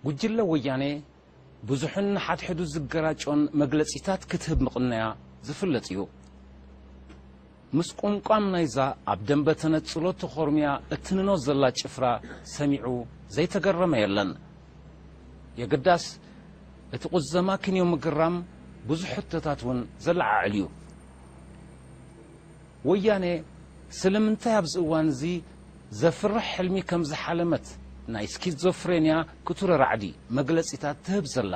ጉጅለ ወያኔ ብዙሕን ንሓድሕዱ ዝገራጮን መግለጺታት ክትህብ ምቕነያ ዝፍለጥ እዩ። ምስቁምቋም ናይዛ ኣብ ደምበ ተነጽሎ ተኾርምያ እትንኖ ዘላ ጭፍራ ሰሚዑ ዘይተገረመ የለን። የግዳስ እቲ ቁዘማ ክንዮ ምግራም ብዙሕ ሕቶታት እውን ዘለዓዕል እዩ። ወያኔ ስለምንታይ ኣብዚ እዋን እዚ ዘፍርሕ ሕልሚ ከም ዝሓለመት ናይ ስኪዞፍሬንያ ክቱር ራዕዲ መግለጺታት ትህብ ዘላ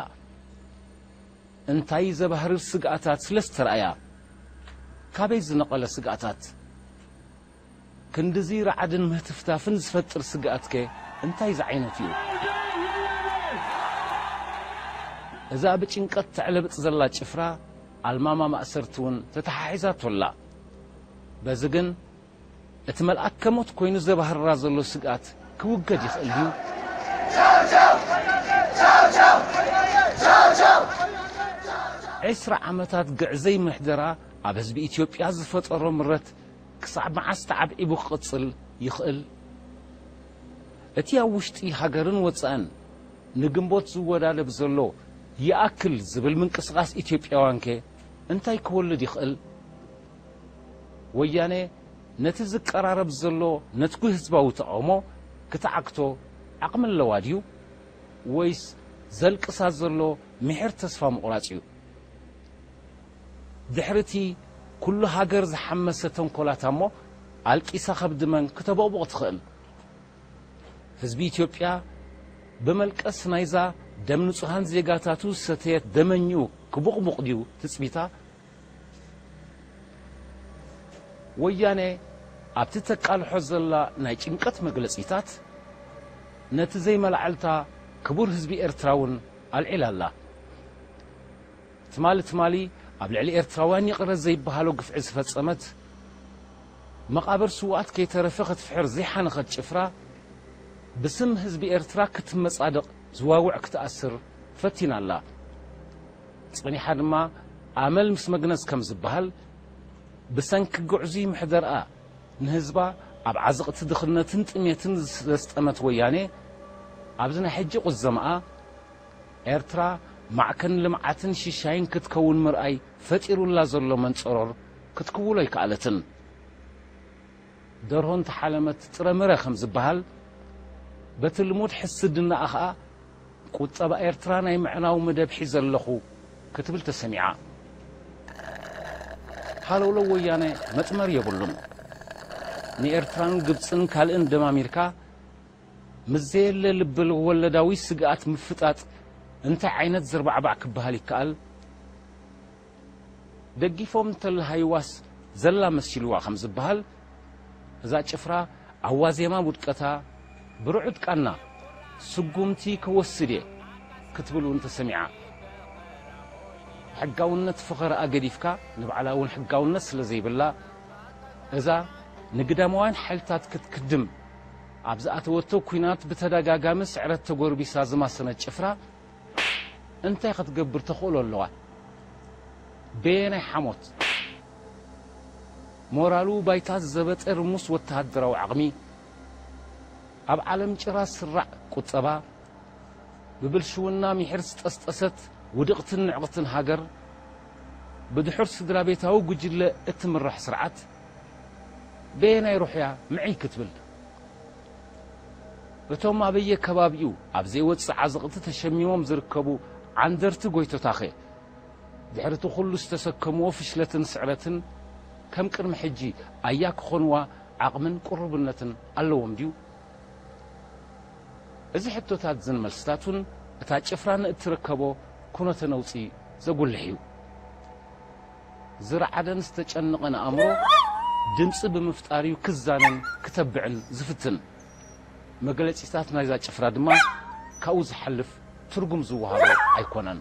እንታይ ዘባህርር ስግኣታት ስለ ዝተራእያ? ካበይ ዝነቐለ ስግኣታት? ክንድዚ ራዕድን ምህትፍታፍን ዝፈጥር ስግኣትከ እንታይ ዝዓይነቱ'ዩ? እዛ ብጭንቀት ተዕለብጥ ዘላ ጭፍራ ኣልማማ ማእሰርቲ'ውን ተተሓሒዛቶ ኣላ። በዚ ግን እቲ መልኣከ ሞት ኮይኑ ዘባህርራ ዘሎ ስግኣት ክውገድ ይኽእል ድዩ? ዕስራ ዓመታት ግዕዘይ ምሕደራ ኣብ ህዝቢ ኢትዮጵያ ዝፈጠሮ ምረት ክሳዕ መዓስ ተዓብዒቡ ክቕጽል ይኽእል? እቲ ኣብ ውሽጢ ሃገርን ወጻእን ንግንቦት ዝወዳደብ ዘሎ ይኣክል ዝብል ምንቅስቓስ ኢትዮጵያውያንከ እንታይ ክወልድ ይኽእል? ወያነ ነቲ ዝቀራረብ ዘሎ ነትጒ ህዝባዊ ተቓውሞ ክትዓግቶ ዓቕሚ ኣለዋ ድዩ? ወይስ ዘልቅሳ ዘሎ ምሒር ተስፋ ምቑራጽ እዩ? ድሕሪ'ቲ ኩሉ ሃገር ዝሓመሰ ተንኮላታ'ሞ ኣልቂሳ ከብዲ መን ክተቦቕቡቕ ትኽእል? ህዝቢ ኢትዮጵያ ብመልቀስ ናይዛ ደም ንጹሃን ዜጋታቱ ዝሰተየት ደመኝኡ ክቡቕቡቕ ድዩ ትጽቢታ? ወያነ ኣብቲ ተቃልሖ ዘላ ናይ ጭንቀት መግለጺታት ነቲ ዘይመላዕልታ ክቡር ህዝቢ ኤርትራ ውን ኣልዒላ ኣላ። ትማሊ ትማሊ ኣብ ልዕሊ ኤርትራውያን ይቕረ ዘይበሃሎ ግፍዒ ዝፈጸመት፣ መቓብር ስውኣት ከይተረፈ ክትፍሕር ዘይሓነኸት ጭፍራ፣ ብስም ህዝቢ ኤርትራ ክትመጻደቕ፣ ዝዋውዕ ክትኣስር ፈቲና ኣላ። ጸኒሓ ድማ ኣመል ምስ መግነዝ ከም ዝበሃል፣ ብሰንኪ ግዕዙይ ምሕደርኣ ንህዝባ ኣብ ዓዘቕቲ ድኽነትን ጥሜትን ዘስጠመት ወያኔ፣ ኣብዚ ናይ ሕጂ ቁዘማኣ፣ ኤርትራ ማዕከን ልምዓትን ሽሻይን ክትከውን ምርኣይ ፈጢሩላ ዘሎ መንጸሮር ክትክውሎ ኣይከኣለትን። ደርሆ እንተሓለመት ጥረ ምረ ከም ዝበሃል፣ በቲ ልሙድ ሕስድናኣ ከኣ፣ ቁጠባ ኤርትራ ናይ ምዕናው መደብ ሒዘ ኣለኹ ክትብል ተሰሚዓ። ሃለውለው ወያነ መጥመር የብሉን። ንኤርትራን ግብጽን ካልእን ደማሚርካ ምስ ዘየለ ልበወለዳዊ ስግኣት ምፍጣጥ እንታይ ዓይነት ዘርባዕባዕ ክበሃል ይከኣል? ደጊፎም እንተለሃይዋስ ዘላ መሲልዋ ከም ዝበሃል፣ እዛ ጭፍራ ኣብ ዋዜማ ውድቀታ ብርዑድ ቃና ስጉምቲ ክወስድ እየ ክትብል እውን ተሰሚዓ። ሕጋውነት ፈኸራኣ ገዲፍካ ንባዕላ እውን ሕጋውነት ስለዘይብላ እዛ ንግዳማውያን ሓይልታት ክትክድም ኣብ ዝኣተወቶ ኲናት ብተደጋጋሚ ስዕረት ተጎርቢሳ ዝማሰነት ጭፍራ፣ እንታይ ክትገብር ተኽእሎ ኣለዋ? በየናይ ሓሞት? ሞራሉ ባይታ ዝዘበጠ ርሙስ ወተሃደራዊ ዓቕሚ፣ ኣብ ዓለም ጭራ ስራዕ ቁጠባ፣ ብብልሽውና ሚሒር ዝጠስጠሰት ውድቕትን ንዕቕትን ሃገር፣ ብድሑር ስድራቤታዊ ጉጅለ እትምራሕ ስርዓት፣ በየናይ ሩሕ'ያ ምዕይ ክትብል? እቶም ኣበየከባቢኡ ኣብ ዘይወጽእ ዓዘቕቲ ተሸሚሞም ዝርከቡ ዓንደርቲ ጎይቶታኸ፣ ድሕሪቲ ኩሉ ዝተሰከምዎ ፍሽለትን ስዕረትን ከም ቅድሚ ሕጂ ኣያ ክኾንዋ ዓቕምን ቅሩብነትን ኣለዎም ድዩ? እዚ ሕቶታትዝን መልስታቱን እታ ጭፍራ ንእትርከቦ ኩነተ ነውጺ ዘጉልሕ እዩ። ዝረዓደን ዝተጨነቐን ኣእምሮ ድምጺ ብምፍጣር'ዩ ክዛነን ክተብዕን ዝፍትን። መግለጺታት ናይዛ ጭፍራ ድማ ካብኡ ዝሓልፍ ትርጉም ዝወሃቦ ኣይኮነን።